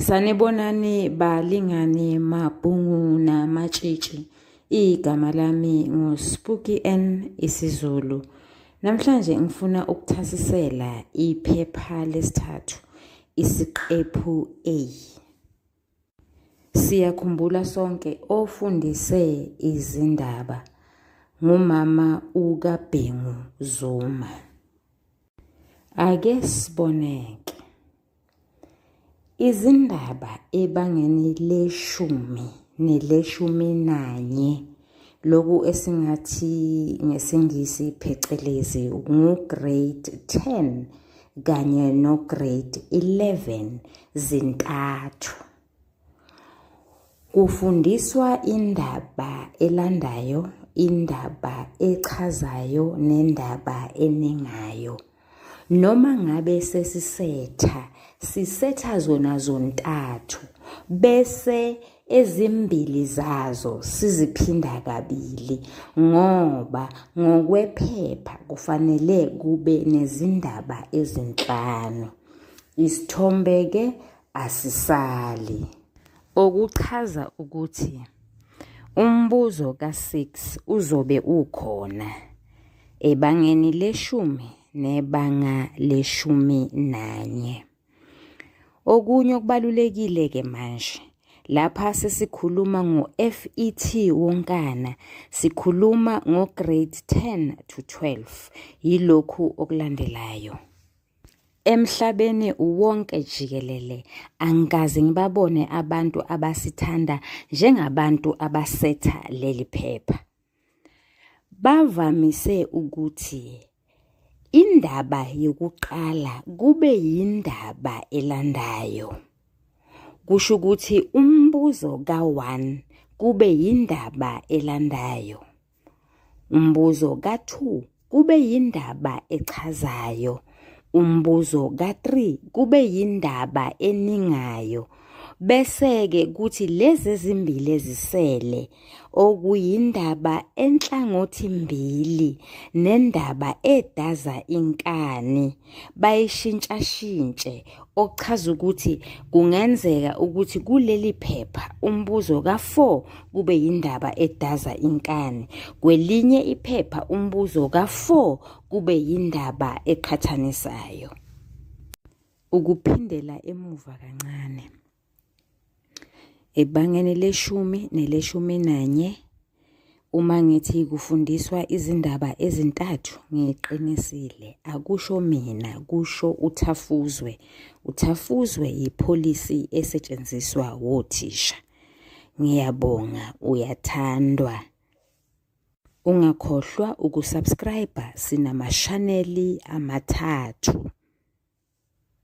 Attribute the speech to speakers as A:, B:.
A: Sanibonani balingani mabhungu namatshitshi. Igama lami nguSpooky N isiZulu. Namhlanje ngifuna ukuthasisela iphepha lesithathu isiqephu A. Siyakhumbula sonke ofundise izindaba ngumama ukaBhengu Zuma. Ake siboneke. Izindaba ebangeni leshumi neleshumi nanye loku esingathi ngesiNgisi phecelezi ngu-grade 10 kanye no-grade 11 zintathu. Kufundiswa indaba elandayo, indaba echazayo nendaba enengayo. Noma ngabe sesisetha, sisetha zona zontathu bese ezimbili zazo siziphinda kabili ngoba ngokwephepha kufanele kube nezindaba ezinhlanu. Isithombe-ke asisali okuchaza ukuthi umbuzo ka-6 uzobe ukhona ebangeni leshumi nebanga leshumi nanye okunye okubalulekile-ke manje Lapha sesikhuluma ngo-FET wonkana, sikhuluma ngo-grade 10 to 12. Yilokhu okulandelayo. Emhlabeni wonke jikelele angikaze ngibabone abantu abasithanda njengabantu abasetha leli phepha. Bavamise ukuthi indaba yokuqala kube yindaba elandayo. Kusho ukuthi umbuzo ka-1 kube yindaba elandayo. Umbuzo ka-2 kube yindaba echazayo. Umbuzo ka-3 kube yindaba eningayo. Bese-ke kuthi lezi ezimbili ezisele okuyindaba enhlangothi mbili nendaba edaza inkani. bayishintshashintshe okuchaza ukuthi kungenzeka ukuthi kuleli phepha umbuzo ka-4 kube yindaba edaza inkani kwelinye iphepha umbuzo ka-4 kube yindaba eqhathanisayo ukuphindela emuva kancane Ebangeni leshumi neleshumi nanye uma ngithi kufundiswa izindaba ezintathu ngiqinisile akusho mina kusho uthafuzwe uthafuzwe yipolicy esetshenziswa wothisha ngiyabonga uyathandwa ungakhohlwa ukusubscribe sinamashaneli amathathu